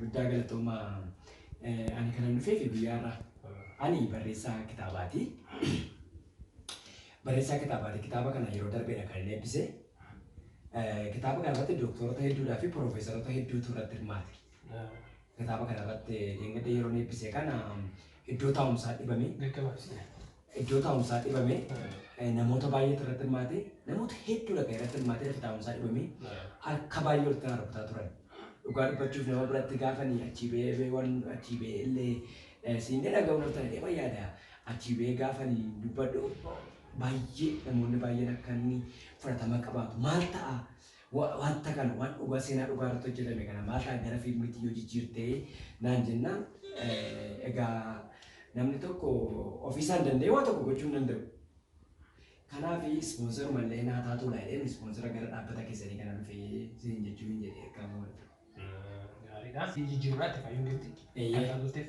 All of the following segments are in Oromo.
Guddaa galatoomaa. Ani kanan dhufeef biyyaarraa. Ani barreessaa kitaabaati. Barreessaa kitaabaati. Kitaaba kana yeroo darbeedha kan inni eebbise. Kitaaba kana irratti dooktorota hedduudhaa fi piroofeesarota hedduutu irratti hirmaate. Kitaaba kana irratti dheengadda yeroo inni eebbise kana iddoo taa'umsaa dhibame. Gaggabaabsina. Iddoo taa'umsaa dhibame namoota baay'eetu irratti hirmaate namoota hedduudha kan irratti hirmaate lafa taa'umsaa dhibame harka baay'ee walitti na rukutaa turan. Dhugaa dubbachuuf nama biratti gaafanii achii ba'ee ba'ee waan achii ba'ee illee eh, siin ni dhaga'u naftan jedhee waan yaada achii ba'ee gaafanii dubbadhu baay'ee namoonni baay'een akka inni fudhatama qabaatu maal ta'a Wanta kana, waan dhugaa, seenaa dhugaa irratti hojjetame kana maal ta'a gara fiilmiitti yoo jijjiirte naan jennaan, egaa namni tokko ofii isaan danda'ee waa tokko gochuu hin danda'u. Kanaaf ispoonsaruma illee naa taatu laa jedheen ispoonsara gara dhaabbata keessanii kana dhufee siin jechuu hin jedhe ergaa moo'atu. Gaariidha. Jijjiirraa itti fayyuun gibxi. Eeyyee. Akka bulteef.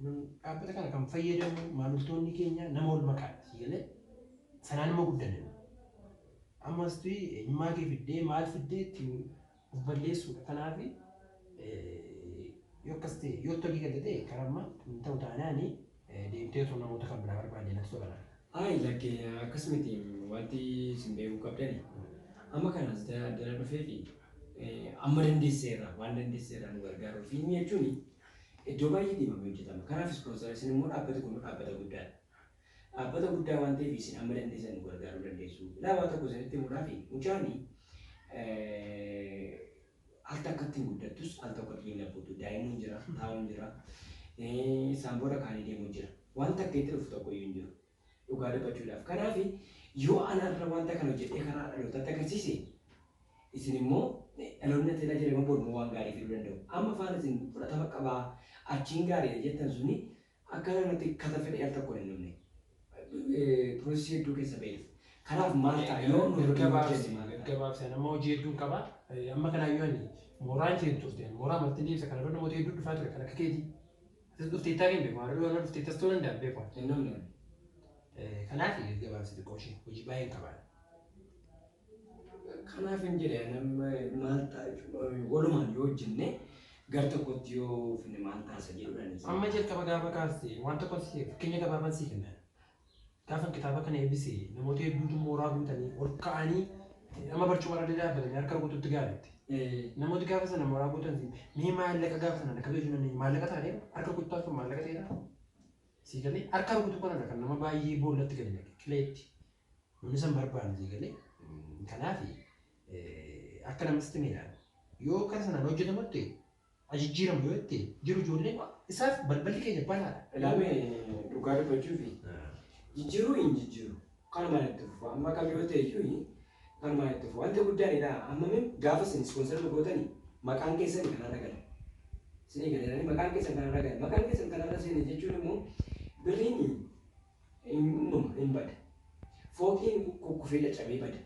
Nun dhaabbata kana kan fayyadamu maamiltoonni keenya nama wal makaadha sii galee sanaan nama guddanne ammas tuyi eenyummaa kee fiddee maal fiddee ittiin of balleessuudha kanaaf yoo akkas ta'e yoo itti hojii galte ta'e karaa ammaa hin ta'u taanaani deemtee osoo namoota kan biraa barbaadde natti tola laata. Ayi lakke akkas miti wanti isin beekuu qabdani amma kana as addana dhufee fi amma dandeesseerra waan dandeesseerra nu gargaaruu fi inni jechuun Iddoo baay'eetti himamee hojjetama. Kanaaf ispoonsara isin immoo dhaabbati kun dhaabbata guddaadha. Dhaabbata guddaa waan ta'eef isin amma dandeessan nu gargaaruu dandeessu. Ilaa waa tokko isinitti himuudhaaf mucaani al takkatti hin guddattus al tokkotti hin labbutu. Daa'imuun jira, taa'uun jira, saan booda kaanii deemuu jira. Waan takka itti dhufu tokko iyyuu hin jiru. Dhugaa dubbachuudhaaf. Kanaaf yoo ana har'a wanta kana hojjedhee karaa dhalootaatti agarsiise isin immoo dhaloonni natti ilaa jedhama bor immoo waan gaarii fiduu danda'u. Amma faana isin fudhatama qabaa achiin gaariidha jettan suni akka namatti kata fedhee al tokkoon hin dhumne. Piroosesii hedduu keessa ba'ee dhufa. Kanaaf maal ta'a yoo nu hojjenne Gaggabaabsi, maal ta'a? gaggabaabsi. Ani amma hojii hedduun qaba. Eh, Amma kanaayyuu ani mooraan kee hin turte. Ani mooraa martin deebisa. Kana dura namoota hedduu dhufaa ture kan akka keetii. Atis dhufteettaa kee hin beeku. Har'a dhugaa dhufteettas ta'uu danda'a hin beeku. Hin namni namni. Kanaaf gad gabaabsi xiqqoo ishee hojii baay'ee hin qabaadha. Kanaaf hin jedhe nama maal ta'a jechuudha. Walumaan yoo hojjenne gar tokkotti yoo finne maal taasa jedhuudhaan. Amma jalqaba gaafa kaaste waan tokko si fakkeenya gabaabaan si kenna. Gaafan kitaaba kana eebbise namoota hedduutu mooraa guutanii ol ka'anii nama barcuma irra dadaabbatanii harka rukututti gaaritti. Namooti gaafa sana mooraa guutan mee maallaqa gaafa sana lakkabe jechuu dandeenya. Maallaqa taanee harka rukuttaan sun maallaqa ta'eera. Sii galee harka rukutuu kanadha kan nama baay'ee boollatti gadi naqe qileetti. Namni san barbaanne sii galee. Kanaaf akka namatti meedhaan yoo kara sanaan hojjetamutti haa jijjiiramu yoo itti jiru ijoollee koo isaaf balballi keenya banaadha. Ilaamee dhugaa dubbachuufi jijjiiruu hin jijjiiru kanumaan itti fufu amma kam yoo ta'e iyyuu kanumaan itti fufu wanti guddaan idhaa amma min gaafa isin ispoonsara nu gootani maqaan keessan kanarra gala isinii galeerani maqaan keessan kanarra gala maqaan keessan kanarra seene jechuun immoo birriin in uumama, in bada. Fooqiin kukkufee caccabee bada.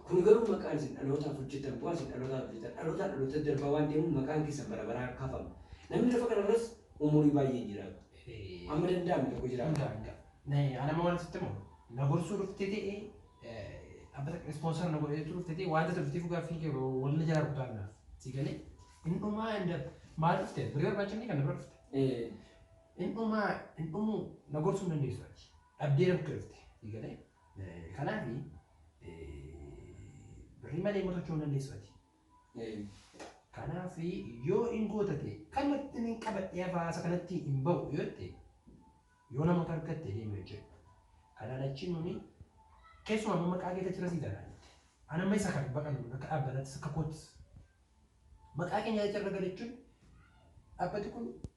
Kun garuu maqaan isin dhalootaaf hojjetan, bu'aan isin dhalootaaf hojjetan dhalootaa dhalootatti darbaa waan deemuuf maqaan keessan bara baraan kaafama. Namni lafa kana irras umurii baay'ee hin jiraatu. Amma danda'ame tokko jiraata. Anama waan sitti himu na gorsuu dhuftee ta'ee dhaabbata ispoonsar na godhee dhufte ta'ee wanta turtii fugaa fi wal na jalaa rukutaa naaf si galee hin dhumaa hin dab maal dhufte birrii barbaachifni kan na bira dhufte. Hin dhumaa hin dhumuu na gorsuu hin dandeessu ati. Dhabdee rakkoo dhufte. Si galee? Eh, Kanaaf birrii malee immoo socho'uu hin dandeessu ati. Eh, Kanaaf yoo hin gootate kallattiin hin qabadhee hafaasa kanatti hin ba'u yoo jette yoo namoota argatte deemi hojjedhu. Kanaan achi nuni keessumaa amma maqaa keetti achirra sii taanaan jette. Ana amma isa kan baqannu kun akka dhaabbataattis akka koottis. Maqaa keenya achirra galachuun dhaabbati kun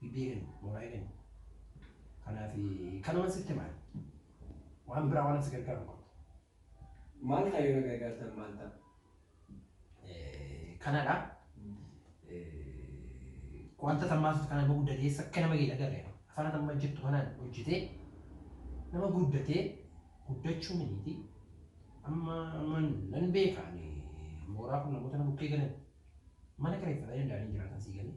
BBN mooraa eegani. Kanaaf kanuman sitti hima ani. Waan biraa waan si gargaaru hin qabdu. Maal ta'a yoo na gargaartan maal ta'a? Kanadha. Wanta tammaasuuf kana nama guddatee sakka nama gadi agarre. Afaan atamma jettu kanaan hojjetee nama guddatee guddachuu miniiti. Amma amma nan beeka ani mooraa kun namoota na bukkee galan mana kireeffatanii danda'anii jiraatan sii galee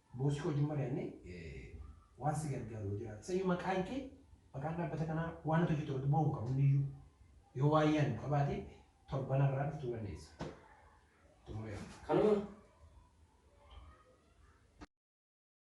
Boosii koo wajjin mari'annee waan si gargaaru yoo jiraate isayyuu maqaan kee maqaan dhaabbata kanaa waan ati hojjettu irratti bu'aa hin qabu hundiyyuu yoo waan yaaddu qabaate torban har'aa dhuftuu dandeessa. Xumureera. Kanuma.